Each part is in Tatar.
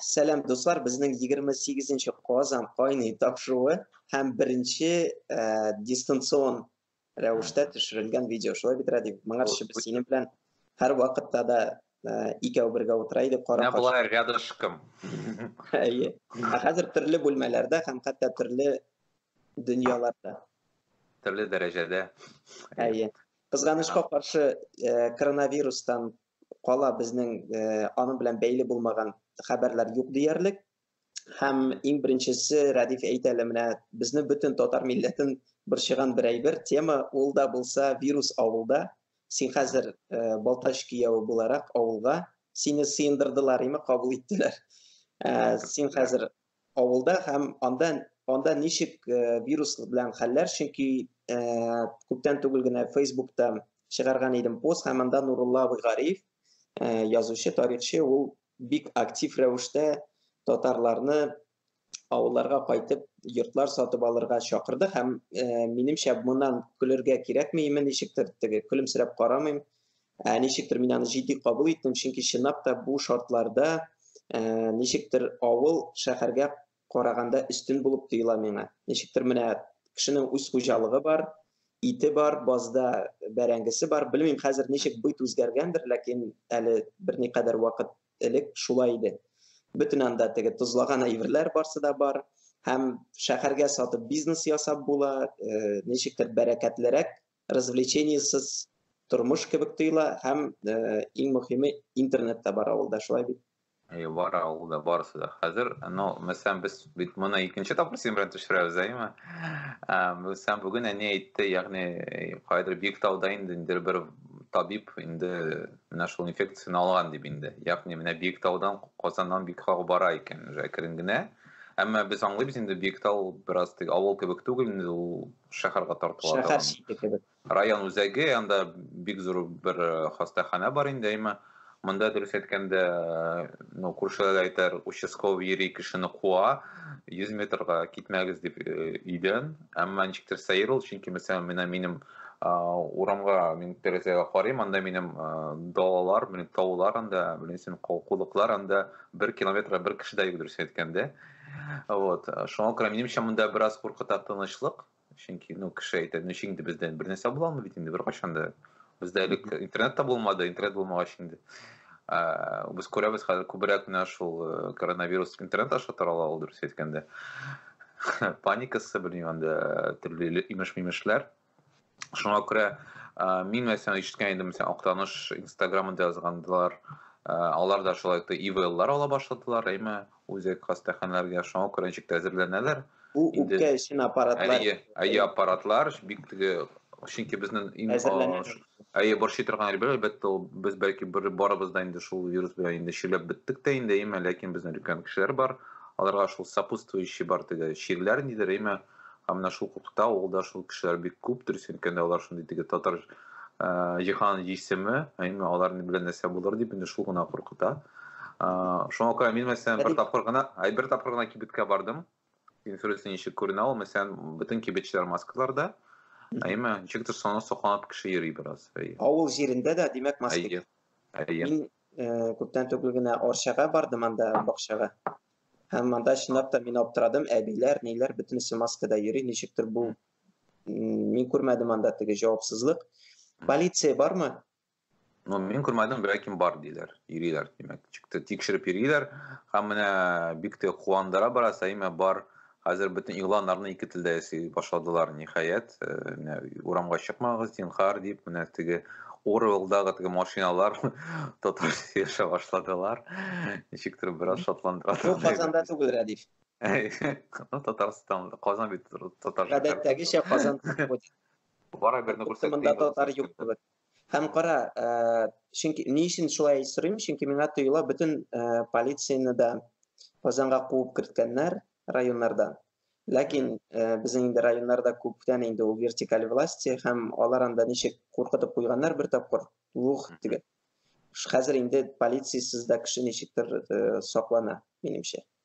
Сәлам дуслар, безнең 28 нче Казан кайный тапшыруы һәм беренче э, дистанцион рәвештә төшерелгән видео. Шулай бит, Радик, моңарчы без синең белән һәр вакытта да э, икәү бергә утыра идек, кара. Менә болай рядышком. Әйе. Ә хәзер төрле бүлмәләрдә һәм хәтта төрле дөньяларда. Төрле дәрәҗәдә. Әйе. Кызганычка каршы, коронавирустан кала безнең аның белән бәйле булмаган хәбәрләр юк диярлек. Һәм иң беренчесе Рәдиф әйтә әле менә безне бөтен татар милләтен борчыган бер әйбер тема ул да булса вирус авылда. Син хәзер э, Балтач кияү буларак авылга сине сыендырдылар име, кабул иттеләр. Э, син хәзер авылда һәм анда анда ничек э, вирус белән хәлләр, чөнки э, күптән түгел генә Фейсбукта чыгарган идем пост һәм анда Нурулла Абыйгариев, э, язучы, тарихчы, ул бик актив рәвештә татарларны авылларга кайтып йортлар сатып алырга чакырды һәм э, минемчә моннан көлергә кирәкмиме ничектер теге көлемсерәп карамыйм Ә, ничектер мин аны җитди кабул иттем, чөнки чынлап та бу шартларда ә, ничектер авыл шәһәргә караганда өстен булып тоела миңа. Ничектер менә кешенең үз хуҗалыгы бар, ите бар, базда бәрәңгесе бар. Белмим хәзер ничек быйт үзгәргәндер, ләкин әле берникадәр вакыт элек шулай иде. Бөтен анда теге тозлаган әйберләр барсы да бар һәм шәһәргә сатып бизнес ясап була, э, ничектер бәрәкәтлерәк развлечениесез тормыш кебек тоела һәм иң мөхиме интернет та бар авылда шулай бит Әйе, бар авылда барысы да. Хәзер, ну, мәсәлән, без бит моны икенче тапкыр синең белән төшерәбез, әйеме? Мәсәлән, бүген әни әйтте, ягъни кайдыр бик тауда инде инде бер табиб инде менә шул инфекцияне алган дип инде. Ягъни менә бик таудан Казаннан бик хак бара икән, уже әкрен генә. Әмма без аңлыйбыз инде бик тау бераз тик авыл кебек түгел инде ул шәһәргә тартыла шәһәр торган. чите кебек. Район үзәге, анда бик зур бер э, хастаханә бар инде, әйме. Монда дөрес әйткәндә, э, ну, күршеләр әйтәр, участковый йөри кешене куа, 100 метрга китмәгез дип э, өйдән. Әмма ничектер сәер ул, чөнки мәсәлән, менә минем а, урамга, мин тәрәзәгә карыйм, анда минем а, далалар, минем таулар анда, беләсең, кулыклар анда бер километрга бер кеше дә юк дөрес әйткәндә. Вот. Э, шуңа күрә минемчә монда бераз куркыта тынычлык. Чөнки, ну, кеше әйтә, ну, инде бездә бер нәрсә була алмый бит инде беркайчан да. Бездә элек интернет та булмады, интернет булмагач инде. Ә, без күрәбез хәзер күбрәк менә шул э, коронавирус интернет аша тарала ул дөрес әйткәндә. Паникасы, белмим, анда төрле имеш-мимешләр. Шуңа күрә мин мәсәлән ишеткән идем, мәсәлән, Актаныш инстаграмында язгандылар, алар да шулай итеп ивеллар ала башладылар, әйме, үзәк хастаханәләргә шуңа күрә ничек тә әзерләнәләр. Бу үпкә өчен аппаратлар. Әйе, әйе аппаратлар, бик теге, чөнки безнең Әйе, борчый торган әйбер, әлбәттә, ул без бәлки бер барыбыз да инде шул вирус белән инде чирләп беттек тә инде, әйме, ләкин безнең өлкән кешеләр бар, аларга шул сопутствующий бар теге чирләр нидер, әйме, һәм менә шул куркыта, ул да шул кешеләр бик күп, дөрес әйткәндә, алар шундый теге татар э, җиһан җисеме, әйме, алар белән нәрсә булыр дип инде шул гына куркыта. Э, шуңа күрә мин мәсәлән бер тапкыр гына, ай бер тапкыр гына кибеткә бардым, Инференция ничек күренә ул? Мәсәлән, бөтен кибетчеләр маскаларда. Әйме, ничектер саны сокланып кеше йөри бераз. Авыл җирендә дә, димәк, маска. Әйе. Әйе. Мин э, күптән түгел генә Орчага бардым анда бакчага. Һәм монда чынлап та мин аптырадым, әбиләр, ниләр бөтенесе маскада йөри, ничектер бу мин күрмәдем анда теге җавапсызлык. Полиция бармы? Ну, мин күрмәдем, ләкин бар диләр. Йөриләр, димәк. Чыкты тикшереп йөриләр. Һәм менә бик тә куандыра бара, Саимә бар. Хәзер бөтен игъланнарны ике телдә ясый башладылар, ниһаять. Э, менә урамга чыкмагыз, зинхар, дип, менә теге Орвелдагы теге машиналар татарча яшәп башладылар. Ничектер бераз шатландыра. Бу Казанда түгел, Радиф. Ну, Татарстан, Казан бит татарча. Гадәттәгечә Казан. Бара берне күрсәтте. Монда татар юк кебек. Һәм кара, ә, чөнки ни өчен шулай сорыйм? Чөнки миңа тоела бөтен ә, полицияне дә Казанга куып керткәннәр районнарда. Ләкин ә, безнең инде районнарда күптән инде ул вертикаль власти һәм алар анда ничек куркытып куйганнар бер тапкыр. Ух, диген. Хәзер инде полициясез дә кеше ничектер ә, саклана, минемчә.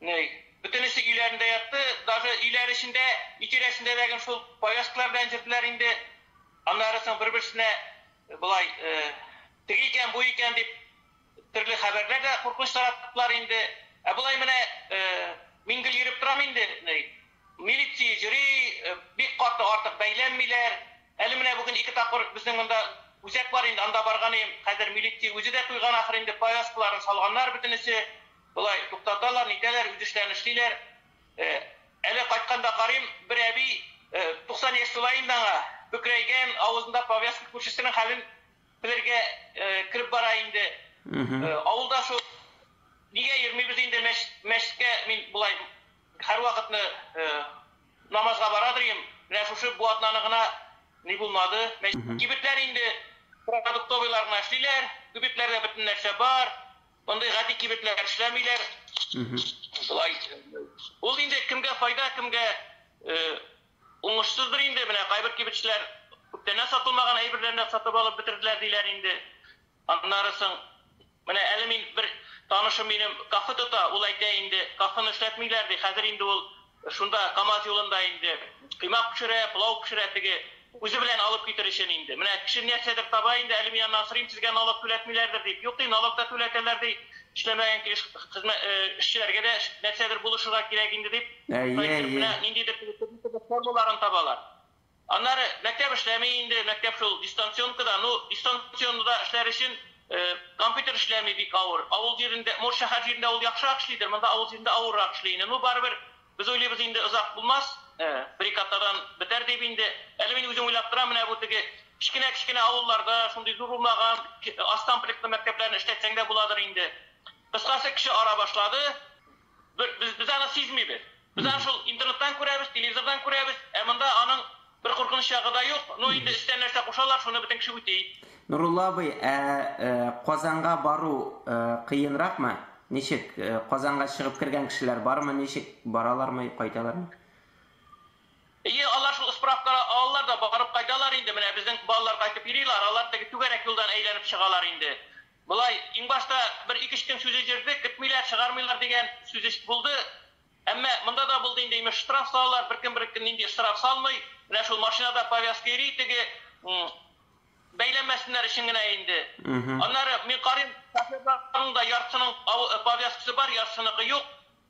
Ней. Бөтенесе өйләрендә ятты, даже өйләр эчендә, өй тирәсендә дә гел шул повязкалар белән йөрделәр инде. Аннары соң бер-берсенә болай, теге икән, бу икән дип, төрле хәбәрләр дә куркыныч тараттылар инде. Ә болай менә мин гел йөреп торам инде, ней. Милиция йөри, бик каты артык бәйләнмиләр. Әле менә бүген ике тапкыр безнең монда үзәк бар инде, анда барган идем, хәзер милиция үзе дә туйган ахыр инде, повязкаларын салганнар бөтенесе. Болай, туктаталар, нитәләр, үтештән эшлиләр. Әле кайтканда карыйм, бер әби, 90 яшь тула инде аңа, бөкрәйгән, авызында повязка, күршесенең хәлен белергә кереп бара инде. Авылда шул, нигә йөрмибез инде мәчеткә, мин болай һәрвакытны намазга барадыр идем, менә шушы бу атнаны гына ни булмады. Кибетләр инде продуктовыйлар гына эшлиләр, кибетләрдә бөтен нәрсә бар. Мондый гади кибетләр эшләмиләр. Шулай. Ул инде кемгә файда, кемгә уңышсыздыр инде. Менә кайбер кибетчеләр күптәннән сатылмаган әйберләрне сатып алып бетерделәр диләр инде. Аннары соң менә әле мин бер танышым минем кафе тота, ул әйтә инде, кафены эшләтмиләр ди, хәзер инде ул Шунда Камаз юлында инде коймак пешерә, пылау пешерә, теге үзе белән алып китер өчен инде. Менә кеше нәрсәдер таба инде, әле мин аны асрыйм, сезгә налог түләтмиләрдер, дип. Юк, ди, налог та түләтәләр, ди. Эшләмәгән килеш хезмә, эшчеләргә дә нәрсәдер булышырга кирәк инде, дип, Әйе, әйе. Менә ниндидер теге төрле төрле формаларын табалар. Аннары мәктәп эшләми инде, мәктәп шул дистанционкада. Ну, дистанционда эшләр өчен компьютер эшләми, бик авыр. Авыл җирендә, может, шәһәр җирендә ул яхшырак эшлидер, монда авыл җирендә авыррак эшли инде. Ну, барыбер, без уйлыйбыз инде, озак булмас, бер-ике атнадан бетәр дип инде. Әле мин үзем уйлап торам, менә бу теге кечкенә-кечкенә авылларда, шундый зур булмаган, аз комплектлы мәктәпләрне эшләтсәң дә буладыр инде. Кыскасы, кеше ара башлады. Бер, без, без аны сизмибез. Без аны шул интернеттан күрәбез, телевизордан күрәбез, ә монда аның бер куркыныч ягы да юк. Ну, инде өстән нәрсә кушалар, шуны бөтен кеше үти. Нурулла абый, ә э, Казанга бару э, кыенракмы? Ничек? Э, Казанга чыгып кергән кешеләр бармы? Ничек? Баралармы, кайталармы? Ие, алар шул справка алалар да барып кайталар инде. Менә безнең балалар кайтып йөриләр, алар теге түгәрәк юлдан әйләнеп чыгалар инде. Болай, иң башта бер ике-өч көн сүз өздердек, көтмиләр, чыгармыйлар дигән сүз булды. Әмма монда да булды инде, имеш, штраф салалар, беркем беркем нинди штраф салмый, менә шул машинада повязка йөри, теге бәйләмәсеннәр өчен генә инде. Аннары мин карыйм, шоферларның да яртысының повязкасы бар, яртысыныкы юк.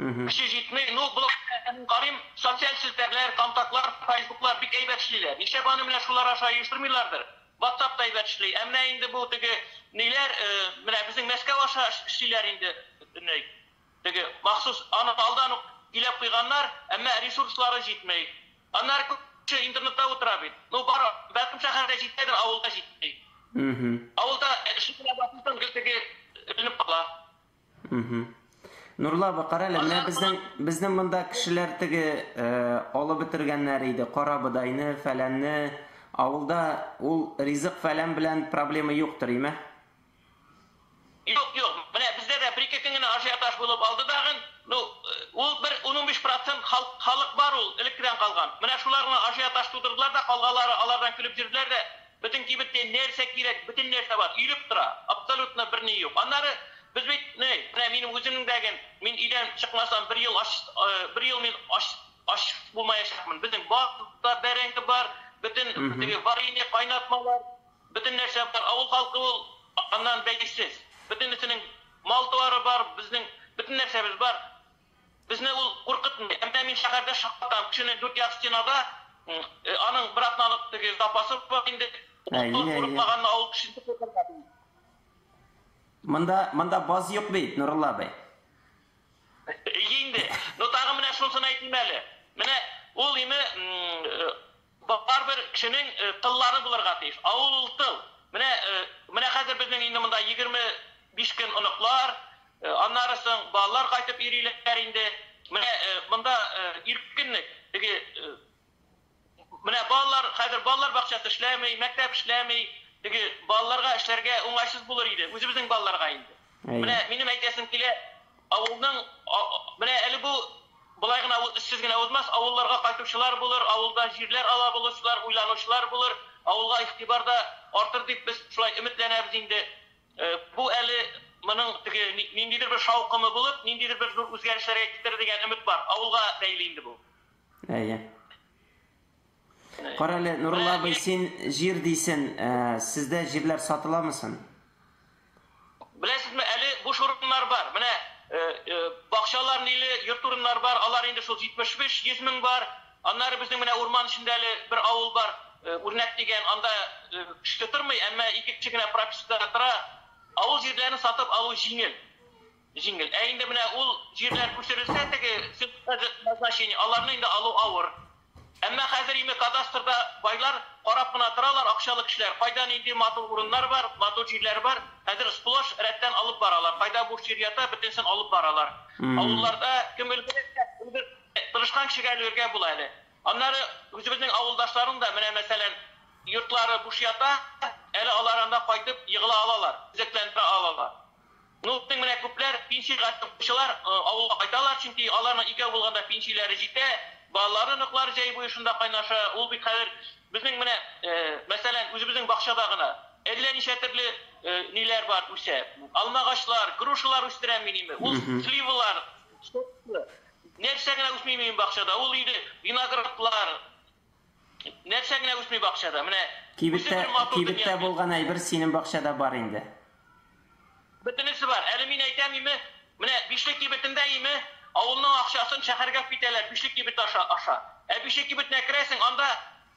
Кеше җитми, ну блог карыйм, социаль челтәрләр, контактлар, файсбуклар бик әйбәт эшлиләр. Нишләп аны менә шулар аша оештырмыйлардыр? Ватсап та әйбәт эшли. Ә менә инде бу теге ниләр, менә безнең Мәскәү аша эшлиләр инде бөтенләй. Теге махсус аны алдан ук иләп куйганнар, әмма ресурслары җитми. Аннары күп кеше интернетта утыра бит. Ну бар, бәлкем шәһәрдә җитәдер, авылда җитми. Авылда эшли генә башласаң, гел теге эленеп кала. Нурла апа, кара әле, менә безнең безнең монда кешеләр теге алып бетергәннәр иде, кара бодайны, фәләнне. Авылда ул ризык фәлән белән проблема юктыр, име? Юк, юк. Менә бездә дә бер-ике көн генә ажиотаж булып алды дагын. Ну, ул бер 10-15% халык халык бар ул, элеккедән калган. Менә шулар гына ажиотаж тудырдылар да, калганлары алардан көлеп йөрделәр дә, Бөтен кибеттә нәрсә кирәк, бөтен нәрсә бар, өелеп тора, абсолютно берни юк. Аннары без бит, ни, менә минем үземнең дә гел, мин өйдән чыкмасам, бер ел ач, бер ел мин ач, ач булмаячакмын. Безнең бакта бәрәңге бар, бөтен теге варенье, кайнатмалар, бөтен нәрсә бар. Авыл халкы ул, аннан бәйсез. Бөтенесенең мал-туары бар, безнең бөтен нәрсәбез бар. Безне ул куркытмый. Әмма мин шәһәрдә шаккатам. Кешенең дүрт як стенада аның бер атналык теге запасы бар инде. Әйе, Ул әйе. курыкмаганны авыл кешесе куркырга тиеш. Монда, монда баз юк бит, Нурулла абый. Әйе инде. Но тагын менә шунысын әйтим әле. Менә ул име м, э, Барыбер кешенең тыллары булырга тиеш. Авыл ул тыл. Менә, менә хәзер безнең инде монда егерме биш көн оныклар, аннары соң балалар кайтып йөриләр инде. Менә монда иркенлек. Теге, менә балалар, хәзер балалар бакчасы эшләми, мәктәп эшләми. Теге балаларга эшләргә уңайсыз булыр иде, үзебезнең балаларга инде. Менә минем әйтәсем килә, авылның менә әле бу болай гына сез генә узмас, авылларга кайтучылар булыр, авылда җирләр ала булучылар, уйланучылар булыр, авылга игътибар да артыр дип без шулай өметләнәбез инде. Бу әле моның теге ниндидер бер шаукымы булып, ниндидер бер зур үзгәрешләргә китерер дигән өмет бар. Авылга бәйле инде бу. Әйе. Карале, Нурулла абый, син җир дисен, э, сездә җирләр сатыламы сон? Беләсезме, әле буш урыннар бар. Менә э, э, бакчалар ниле, йорт урыннар бар. Алар инде шул 75-100 мең бар. Аннары безнең менә урман эчендә әле бер авыл бар, э, Үрнәк дигән. Анда э, кеше тормый, әмма ике кеше генә пропискада тора. Авыл җирләрен сатып алу җиңел. Җиңел. Ә инде менә ул җирләр күчерелсә, теге сельхозхозяйство назначение, аларны инде алу авыр. Әмма хәзер име кадастрда байлар карап кына торалар, акчалы кешеләр, кайда нинди матур урыннар бар, матур җирләр бар, хәзер сплошь рәттән алып баралар, кайда буш җир ята, бөтенесен алып баралар. Авылларда кем өлгерәчәк, өлгер, тырышкан кешегә өлгергә була әле. Аннары үзебезнең авылдашларның да менә, мәсәлән, йортлары буш ята, әле алар анда кайтып егыла алалар, төзекләндерә алалар. Ну, тиң менә күпләр пенсиягә чыкучылар авылга кайталар, чөнки аларның икәү булганда пенсияләре җитә, балалары, оныклары җәй буе шунда кайнаша. Ул бит хәзер безнең менә, мәсәлән, үзебезнең бакчада гына әллә ничә төрле ниләр бар, үсә. Алмагачлар, грушалар үстерәм мин име, ул сливалар, сокны, нәрсә генә үсми минем бакчада, ул инде виноградлар, Нәрсә генә үсми бакчада? Менә Кибеттә, кибеттә булган әйбер синең бакчада бар инде. Бөтенесе бар. Әле мин әйтәм име? Менә Бишле кибетендә име? Авылның акчасын шәһәргә китәләр Бишле кибет аша, аша. Ә Бишле кибетенә керәсең, анда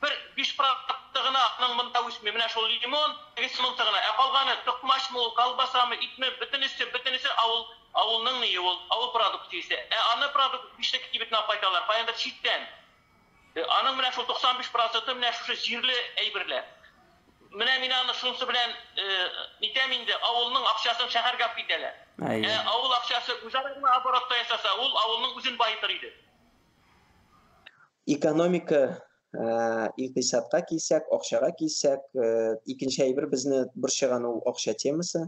бер биш продукты гына аның монда үсми. Менә шул лимон, тегесе монысы гына. Ә калганы, токмачмы ул, колбасамы, итме, бөтенесе, бөтенесе авыл, авылның ние ул, авыл продукциясе. Ә аны продукт Бишле кибетенә кайталар, каяндыр читтән. Аның менә шул 95 проценты менә шушы җирле әйберләр. Менә мин аны шунсы белән нитәм инде, авылның акчасын шәһәргә алып китәләр. Ә авыл акчасы үзара гына оборотта ясаса, ул авылның үзен баетыр иде. Экономика, икътисадка килсәк, акчага килсәк, икенче әйбер безне борчыган ул акча темасы.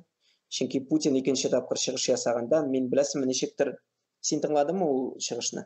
Чөнки Путин икенче тапкыр чыгыш ясаганда, мин беләсеңме ничектер, син тыңладыңмы ул чыгышны?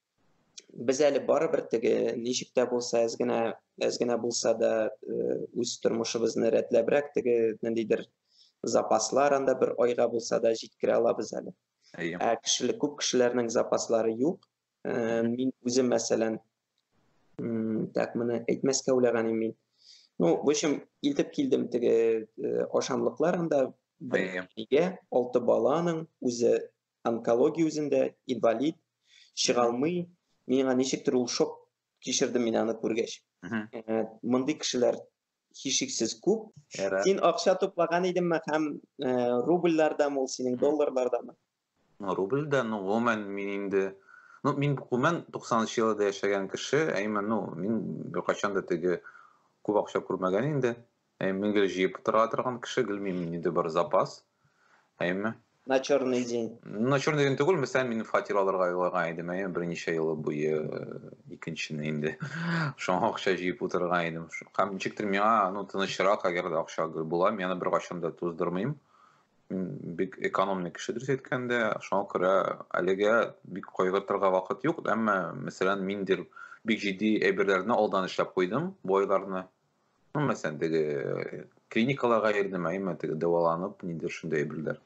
без әле барыбер теге ничек тә булса әз генә әз генә булса да үз тормышыбызны рәтләбрәк теге ниндидер запаслар анда бер айга булса да җиткерә алабыз әле ә кешелек күп кешеләрнең запаслары юк мин үзем мәсәлән так моны әйтмәскә уйлаган идем мин ну в общем илтеп килдем теге ашамлыклар анда бергә алты баланың үзе онкология үзендә инвалид чыга алмый миңа ничектер ул шок кичердем мин аны күргәч э, мондый кешеләр һичшиксез күп син акча туплаган идеңме һәм э, рубльләрдәме ул синең долларлардамы ну рубльдә ну гомумән мин инде ну мин гомумән туксанынчы елда яшәгән кеше әйме ну мин беркайчан да теге күп акча күрмәгән инде Әйме гел җыеп утыра торган кеше гел мин инде бар запас. Әйме. На черный день. На черный день түгел, мисәл мин фатир алырга юллаган идем, әйме берничә ел буе э, икенчене инде. Шуңа акча җыеп утырган идем. Һәм ничектер миңа, ну, тынычрак, әгәр дә акча гел була, мин аны беркайчан да туздырмыйм. бик экономный кеше дөрес әйткәндә шуңа күрә әлегә бик кайгыртырга вакыт юк әмма мәсәлән миндер бик җитди әйберләрне алдан эшләп куйдым бу айларны Ну, мәсәлән, теге э, клиникаларга йөрдем, әйме, теге дәваланып, ниндер шундый әйберләр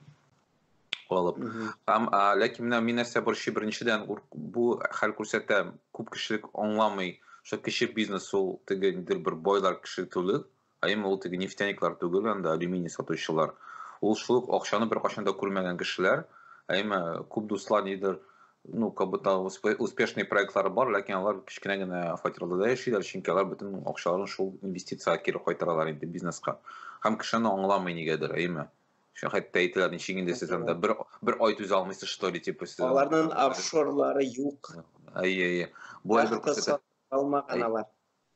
алып. Һәм ләкин менә мин нәрсә борчый беренчедән бу хәл күрсәтә, күп кешелек аңламый, что кече бизнес ул теге ниндер бер байлар кеше түгел, әйме ул теге нефтяниклар түгел, анда алюминий сатучылар. Ул шул акчаны беркайчан да күрмәгән кешеләр, әйме күп дуслар нидер ну, как будто успешный проектлары бар, ләкин алар кечкенә генә фатирларда да яшиләр, чөнки алар бөтен акчаларын шул инвестициягә кире кайтаралар инде бизнеска. Һәм кеше аны аңламый нигәдер, әйме? Шул хәтта әйтәләр, ничек инде сез анда бер бер ай түзә алмыйсыз, что ли, типа сез. Аларның офшорлары юк. Әйе, әйе. Бу әйбер күрсәтә. Алмаган алар.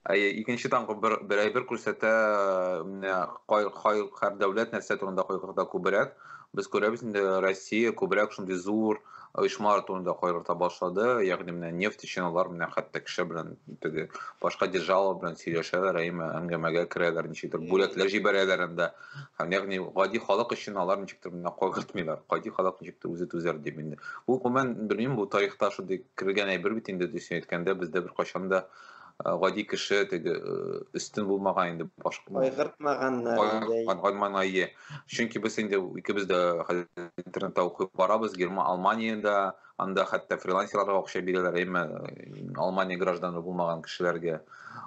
Әйе, икенче таңгы бер, бер әйбер күрсәтә, менә кай, кай, һәр дәүләт нәрсә турында кайгырта күбрәк. Без күрәбез инде, Россия күбрәк шундый зур оешмалар турында кайгырта башлады. Ягъни менә нефть өчен алар менә хәтта кеше белән теге башка держава белән сөйләшәләр, әйме, әңгәмәгә керәләр, ничектер бүләкләр җибәрәләр анда. Һәм ягъни гади халык өчен алар ничектер менә кайгыртмыйлар. Гади халык ничектер үзе түзәр дип инде. Бу гомумән, белмим, бу тарихта шундый кергән әйбер бит инде, дөресен әйткәндә, бездә беркайчан да Э, гади кеше теге э, өстен булмаган инде башка кайгыртмаганнар инде чөнки без инде икебез дә интернетта укып барабыз герма алманиядә анда хәтта фрилансерларга акча бирәләр әмма э, алмания гражданы булмаган кешеләргә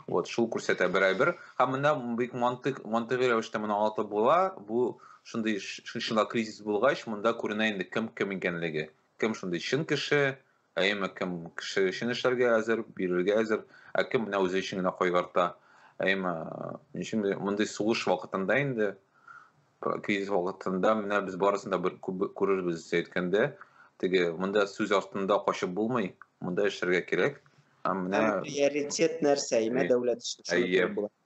вот шул күрсәтә берәйбер һәм менә бик мантык мантыйгый рәвештә моны аңлатып була бу шундый шунда кризис булгач монда күренә инде кем кем икәнлеге кем шундый чын кеше Әйеме, кем кеше өчен эшләргә әзер, бирергә әзер, ә кем менә үзе өчен генә кайгырта. Әйеме, өчен мондый сугыш вакытында инде, кризис вакытында менә без барысын да бер күрербез әйткәндә, теге монда сүз артында качып булмый, монда эшләргә кирәк. Һәм менә приоритет нәрсә? Имә дәүләт эше. Әйе.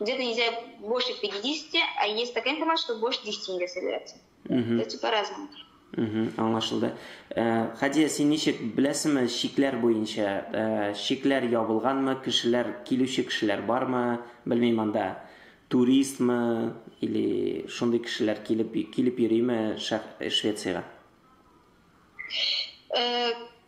Где-то нельзя больше 50, а есть такая информация, что больше 10 нельзя собираться. Угу. Это по-разному. Угу, аңлашылды. Э, Хадия, син ничек беләсеңме шикләр буенча? Э, шикләр ябылганмы, кешеләр, килүче кешеләр бармы? Белмим анда. Туристмы или шундый кешеләр килеп килеп йөриме Швециягә? Э,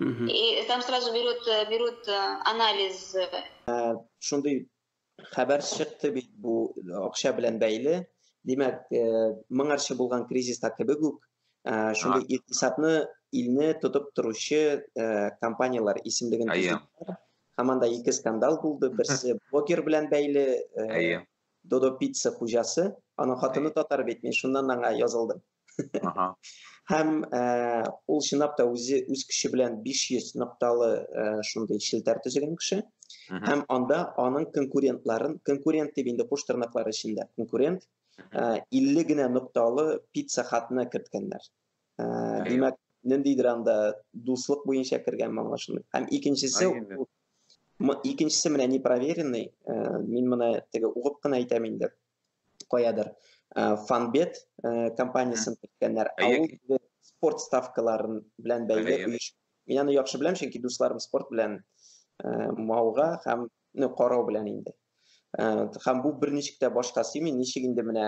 И там сразу берет, берут э, анализ. Э, шундый хәбәр чыкты бит бу акча белән бәйле. Димәк, э, моңарчы булган кризиста кебек үк шундый икътисадны илне тотып торучы компанияләр исемлеген һәм анда ике скандал булды. Берсе блогер белән бәйле. Әйе. Додо пицца хуҗасы, аның хатыны татар бит, мин шуннан аңа язылдым. Ага. Һәм э, ул чынлап та үзе үз көче белән 500 нокталы э, шундый челтәр төзегән кеше. Һәм анда аның конкурентларын, конкурент дип инде куш тырнаклары эчендә, конкурент 50 э, генә нокталы пицца хатны керткәннәр. Димәк, ниндидер анда дуслык буенча кергән моңа шундый. Һәм икенчесе икенчесе менә непроверенный, мин моны теге угып кына әйтәм инде. каядыр фанбет компаниясен киткәннәр спорт ставкаларын белән бәйле мин аны яхшы беләм чөнки дусларым спорт белән мауга һәм ну карау белән инде һәм бу берничек тә башка сыймый ничек инде менә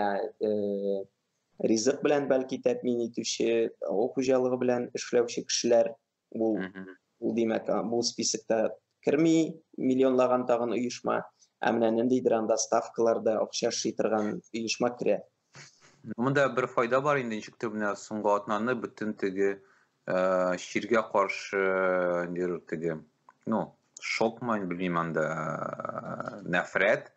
ризык белән бәлки тәэмин итүче авыл хуҗалыгы белән эшләүче кешеләр Ул ул димәк, бу списокта керми миллионлаган тагын оешма, ә менә ниндидер анда ставкаларда акча эшли торган оешма керә. Монда бер файда бар инде, ничектер менә соңгы атнаны бөтен теге чиргә каршы нидер теге, ну, шокмы, белмим анда э, нәфрәт.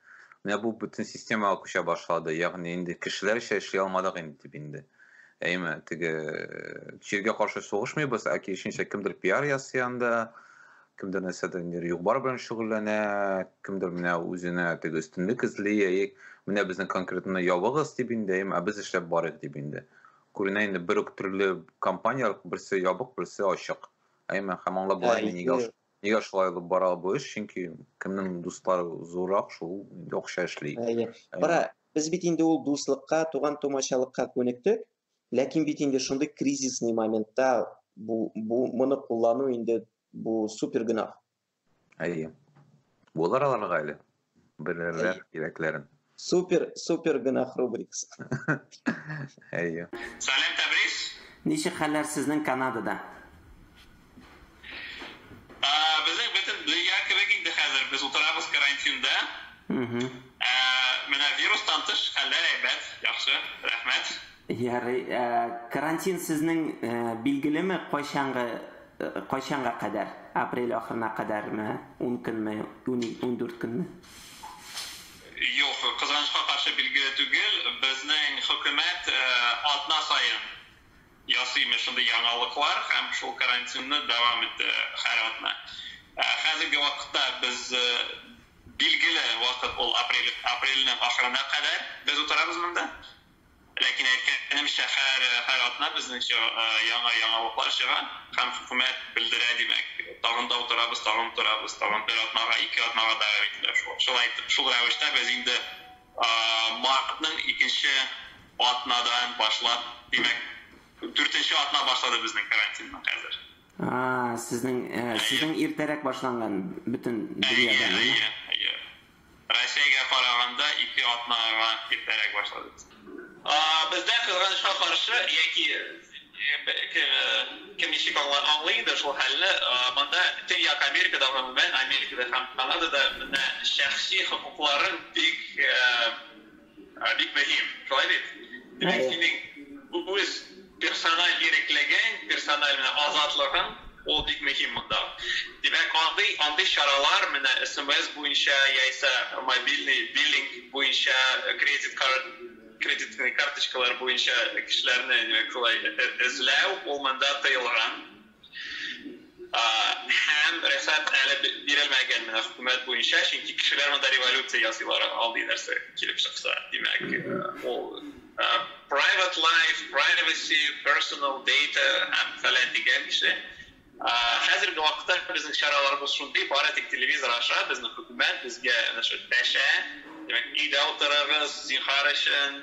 Менә бу бөтен системага күчә башлады. Ягъни инде кешеләрчә эшли алмадык инде дип инде. Әйме, теге чиргә э, каршы сугышмыйбыз, ә киресенчә кемдер пиар ясый анда, кемдер нәрсәдер инде югбар белән шөгыльләнә, кемдер менә үзенә теге өстенлек эзли, әйе, менә безнең конкретно ябыгыз дип инде, әйме, ә без эшләп барыйк дип инде. Күренә инде бер үк төрле компанияләр, берсе ябык, берсе ачык. Әйме, һәм аңлап була инде нигә нигә шулай алып бара бу эш, чөнки кемнең дуслары зуррак, шул инде акча эшли. Кара, без бит инде ул дуслыкка, туган-тумачалыкка күнектек, ләкин бит инде шундый кризисный моментта бу бу моны куллану инде бу супер гөнаһ. Әйе. Булыр аларга әле. Белерләр кирәкләрен. Супер, супер гөнаһ рубрикасы. Әйе. Салем Тәбрис. Ничек хәлләр сезнең Канадада? Ә, безнең бөтен дөнья кебек инде хәзер. Без утырабыз карантинда. Ә, менә вирустан тыш хәлләр әйбәт, яхшы, рәхмәт. Ярый. Ә, карантин сезнең ә, билгелеме, кайчанга Кайчанга кадәр? Апрель ахырына кадәрме? Ун көнме? Ундүрт көнме? Юк, кызганычка каршы билгеле түгел. Безнең хөкүмәт атна саен ясый имеш шундый яңалыклар һәм шул карантинны дәвам итә һәр атна. Хәзерге вакытта без билгеле вакыт ул апрель, апрельнең ахырына кадәр без утырабыз монда. Ләкин әйткәнемчә, һәр һәр атна безнеңчә яңа яңалыклар чыга һәм хөкүмәт белдерә, димәк, тагын да утырабыз, тагын утырабыз, тагын бер атнага, ике атнага дәвам ителә шул. Шулай итеп, шул рәвештә без инде мартның икенче атнадан башлап, димәк, дүртенче атна башлады безнең карантинның хәзер. А-а, сезнең, сезнең иртәрәк башланган бөтен дөньяда. Әйе, әйе, әйе. Россиягә караганда ике атнага иртәрәк башладык. Бездә, кызганычка каршы, яки кем ничек аңлый инде шул хәлне, монда Төньяк Америкада, гомумән, Америкада һәм Канадада менә шәхси хокукларың бик Ә, бик мөһим, шулай бит? Димәк, синең үз персональ иреклегең, персональ менә азатлыгың, ул бик мөһим монда. Димәк, андый, андый чаралар менә смс буенча яисә мобильный биллинг буенча, кредит карт, кредитный карточкалар буенча кешеләрне, димәк, шулай эзләү, ул монда тыелган. Һәм рөхсәт әле бирелмәгән менә хөкүмәт буенча, чөнки кешеләр монда революция ясыйлар алдый нәрсә килеп чыкса. Димәк, ул private life, privacy, personal data һәм фәлән дигән кеше. Хәзерге вакытта безнең чараларыбыз шундый, бары тик телевизор аша безнең хөкүмәт безгә дәшә. Димәк, өйдә утырыгыз, зинһар өчен.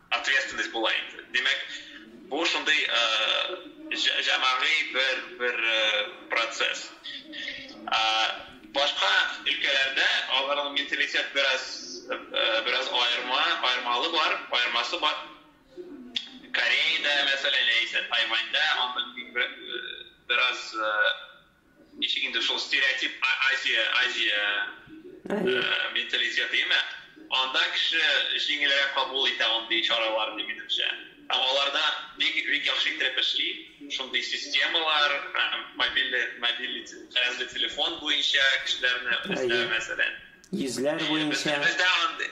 Ответственность була инде. Димәк, бу шундый җәмәгый бер бер процесс. Башка өлкәләрдә аларның менталитет бераз бераз аерма, аермалы бар, аермасы бар. Кореяда, мәсәлән, яисә Тайваньда андый бераз Ничек инде шул стереотип Азия, Азия менталитеты имә. Анда кеше җиңелрәк кабул итә андый чараларны, минемчә. Һәм аларда бик, бик яхшы иттереп эшли. Шундый системалар, мобильный, мобильный җиһазлы телефон буенча кешеләрне эзләү, мәсәлән. Йөзләр буенча. Бездә андый,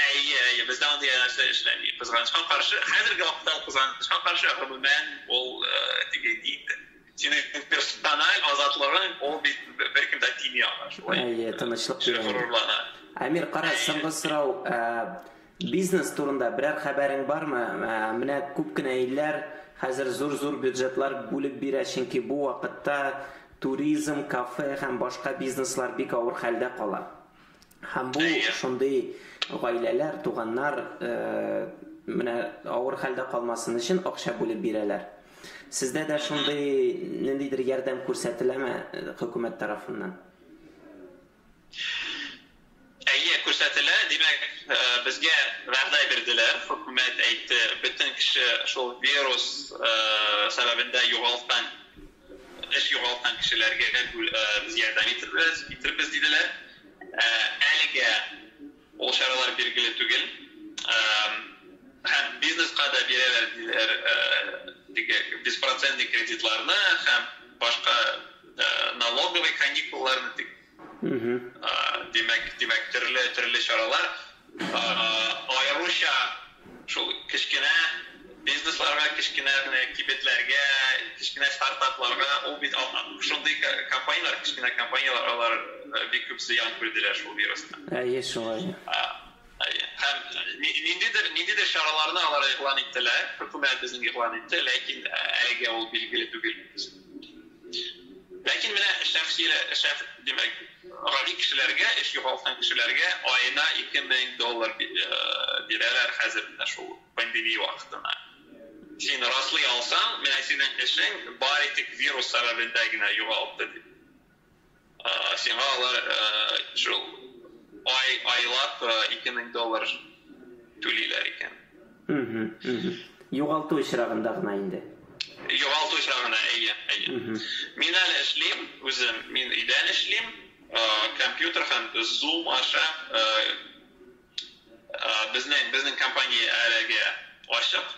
әйе, әйе, бездә андый нәрсә эшләми. Кызганычка каршы, хәзерге вакытта кызганычка каршы, гомумән, ул теге инде. Синең персональ азатлыгың, ул бит беркем дә тими аңа, шулай. Әйе, тынычлык бирә. Горурлана. Әмир, кара, соңгы сорау. Бизнес турында берәр хәбәрең бармы? Менә күп кенә илләр хәзер зур-зур бюджетлар бүлеп бирә, чөнки бу вакытта туризм, кафе һәм башка бизнеслар бик авыр хәлдә кала. Һәм бу шундый гаиләләр, туганнар менә авыр хәлдә калмасын өчен акча бүлеп бирәләр. Сездә дә шундый ниндидер ярдәм күрсәтеләме хөкүмәт тарафыннан? Әйе, күрсәтелә. Димәк, безгә вәгъдә бирделәр, хөкүмәт әйтте, бөтен кеше шул вирус сәбәбендә югалткан Эш югалткан кешеләргә без ярдәм итербез, диделәр. Әлегә ул чаралар билгеле түгел һәм бизнеска да бирәләр диләр теге беспроцентный кредитларны һәм башка налоговый каникулларны, дип. Димәк, димәк, төрле, төрле чаралар, аеруча шул кечкенә бизнесларга, кечкенә генә кибетләргә, кечкенә стартапларга, ул бит шундый компанияләр, кечкенә компанияләр, алар бик күп зыян күрделәр шул вирустан. Әйе, шулай. Һәм ниндидер ниндидер чараларны алар игълан иттеләр, хөкүмәт безнең игълан итте, ләкин әлегә ул билгеле түгел. Ләкин менә шәхси шәх, димәк, гади кешеләргә, эш югалткан кешеләргә аена 2000 доллар бирәләр хәзер менә шул пандемия вакытына. Син раслый алсаң, менә синең эшең бары тик вирус сәбәбендә генә югалды дип. Сиңа алар шул ай, айлап 2000 доллар түлиләр икән. Югалту очрагында гына инде. Югалту очрагында, әйе, әйе. Мин әле эшлим үзем, мин өйдән эшлим, компьютер һәм Zoom аша безнең компания әлегә ачык.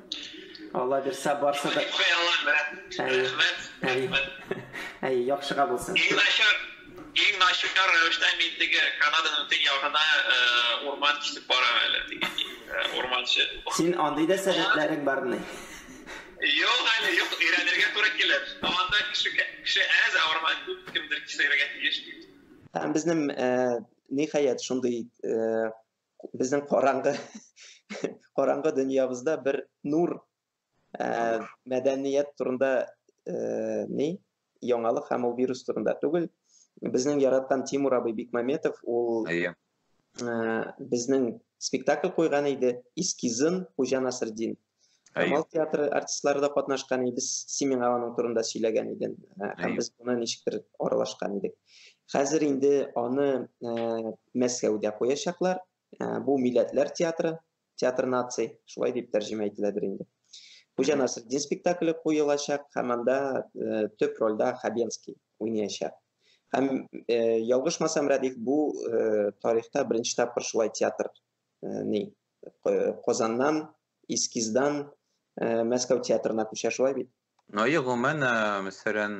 Алла бирсә барса да. Әй, яхшыга булсын. Иң начар, иң начар рәвештә мин теге Канаданың төнь ягына урман кисеп барам әле. Урманчы. Син андый да сәләтләрең бармы? Юк әле, юк, өйрәнергә туры килер. Анда кеше кеше әз, ә урман күп, кемдер кисергә тиеш. Безнең ниһаять шундый Безнең караңгы караңгы дөньябызда бер нур ә, мәдәният турында ә, ни яңалык һәм ул вирус турында түгел. Безнең яраткан Тимур абый Бикмаметов ул ә, безнең спектакль куйган иде, эскизын Хуҗа Насырдин Камал театры артистлары да катнашкан иде. Син миңа аның турында сөйләгән идең. Э, һәм без моны ничектер аралашкан идек. Хәзер инде аны э, Мәскәүдә куячаклар. Э, бу милләтләр театры, театр наций, шулай дип тәрҗемә ителәдер инде. Хуҗа Насретдин спектакле куелачак һәм анда төп рольдә Хабенский уйнаячак. Һәм ялгышмасам, Радик, бу тарихта беренче тапкыр шулай театр ни Казаннан, Искиздан Мәскәү театрына күчә, шулай бит? Ну, гомумән, мәсәлән,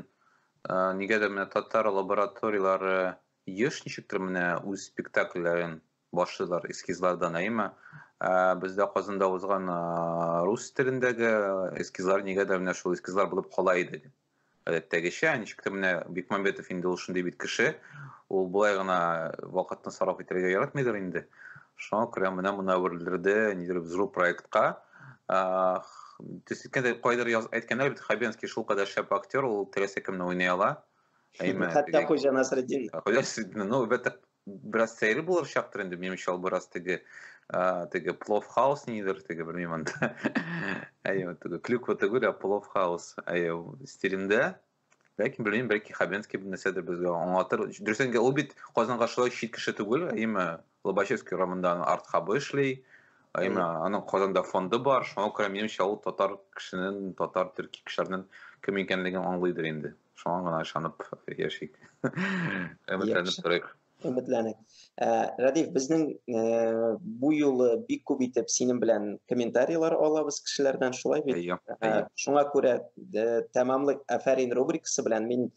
нигәдер менә татар лабораторияләре еш ничектер менә үз спектакльләрен башлыйлар эскизлардан, әйеме? Бездә Казанда узган рус телендәге эскизлар нигәдер менә шул эскизлар булып кала иде. Гадәттәгечә, ничек тә менә Бекмамбетов инде ул шундый бит кеше, ул болай гына вакытны сарыф итәргә яратмыйдыр инде. Шуңа күрә менә моны әверелдерде, нидер взрыв проектка. Төс иткәндә кайдыр яз әйткәннәр бит, Хабенский шул кадәр шәп актер, ул теләсә кемне уйный ала. Әйме, Хәтта Хуҗа Насретдин. Хуҗа Насретдин, ну, бәтәк бераз сәере булыр чактыр инде минем чал бераз теге теге плов хаус нидер теге белмим анда әйе теге клюква түгел ә плов хаус әйе стилендә ләкин белмим бәлки хабенский бер нәрсәдер безгә аңлатыр дөрес әйткәндә ул бит казанга шулай чит кеше түгел әйеме лобачевский урамында аның арт хабы эшли әйеме аның казанда фонды бар шуңа күрә минемчә ул татар кешенең татар төрки кешеләрнең кем икәнлеген аңлыйдыр инде Шуңа гына ышанып яшик. Өметләнеп торыйк. Өметләнек. Ә, Радиф, безнең ә, бу юлы бик күп итеп синең белән комментарийлар алабыз кешеләрдән, шулай бит? Әйе. Ә, шуңа күрә ә, тәмамлык афәрин рубрикасы белән мин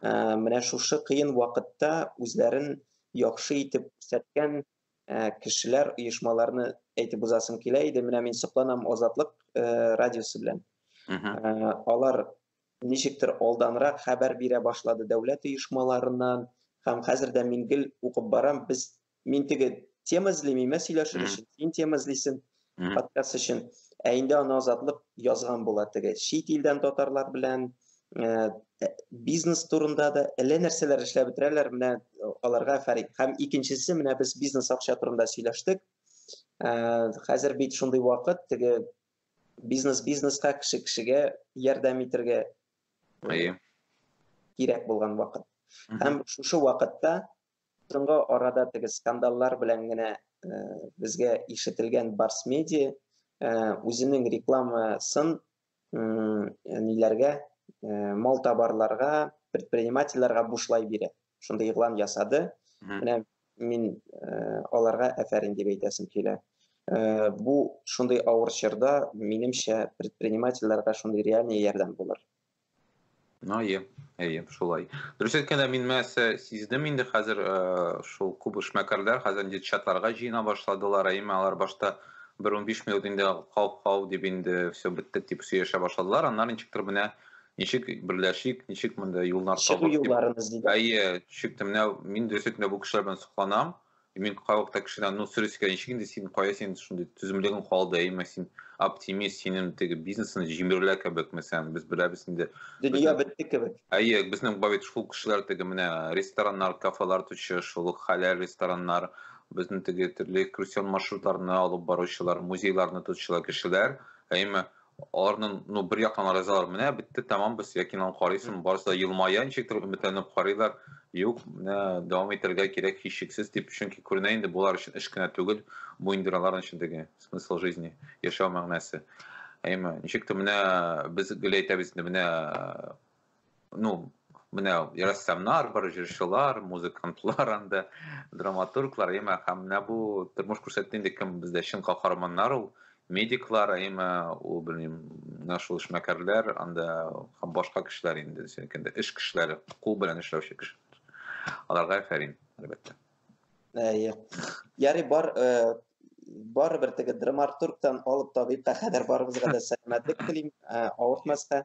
ә, менә шушы кыен вакытта үзләрен яхшы итеп күрсәткән ә, кешеләр, оешмаларны әйтеп узасым килә иде. Менә мин сокланам Азатлык ә, радиосы белән. Ә, алар ничектер алданрак хәбәр бирә башлады дәүләт оешмаларыннан, һәм хәзер дә мин гел укып барам, без, мин теге тема эзлим, имә сөйләшер өчен, син тема эзлисен, подкаст өчен, ә инде аны азатлык язган була теге, чит илдән татарлар белән, Э, э, бизнес турында да әллә нәрсәләр эшләп бетерәләр менә э, аларга фәрик һәм икенчесе менә без бизнес акча турында сөйләштек хәзер бит шундый вакыт теге Бизнес бизнеска, кеше кешегә ярдәм итергә Әйе. кирәк булган вакыт. Һәм шушы вакытта соңгы арада теге скандаллар белән генә э, безгә ишетелгән Барс Медиа э, үзенең рекламасын ниләргә, э, мал табарларга, предпринимательләргә бушлай бирә. шундый игълан ясады. Менә мин э, аларга әфәрин дип әйтәсем килә. Э, бу шундый авыр чорда, минемчә, предпринимательләргә шундый реальный ярдәм булыр. Ну, әйе, әйе, шулай. Дөрес әйткәндә, мин мәсә сиздем инде хәзер э, шул күп эшмәкәрләр хәзер инде чатларга җыена башладылар, әйме алар башта бер 15 минут инде хау-хау дип инде все беттек дип сөйләшә башладылар, аннары ничектер менә Ничек берләшик, ничек монда юллар табып. Чыгу юлларын эзлибез. Әйе, чыкты. Менә мин дөрес әйтмә бу кешеләр белән сокланам. Мин кайвакытта кешедән, ну, сөрис икән, ничек инде син, кая син шундый түземлегең калды, әйме син оптимист, синең теге бизнесны җимерелә кебек, мәсәлән, без беләбез инде. Дөнья бетте кебек. Әйе, безнең бабит шул кешеләр теге менә рестораннар, кафелар төче, шул хәләл рестораннар, безнең теге төрле экскурсион маршрутларны алып баручылар, музейларны тотучылар кешеләр, әйме Аларның ну бер яктан ризалар, менә бетте, тәмам без якинан карыйсың, барысы да елмая, ничектер өметләнеп карыйлар. Юк, менә дәвам итәргә кирәк һичшиксез дип, чөнки күренә инде болар өчен эш кенә түгел, бу инде аларның эчендәге смысл жизни, яшәү мәгънәсе. Әйме, ничектер менә без гел әйтәбез инде, менә ну менә рәссамнар бар җырчылар музыкантлар анда драматурглар әмма һәм менә бу тормыш күрсәтте инде кем бездә чын каһарманнар ул медиклар әмма ул белмим менә шул эшмәкәрләр анда һәм башка кешеләр инде сөйкәндә эш кешеләре кул белән эшләүче кешеләр аларга фәрин әлбәттә әйе ярый бар э, барыбер теге драматургтан алып табибка кадәр барыбызга да сәламәтлек телим э, авыртмаска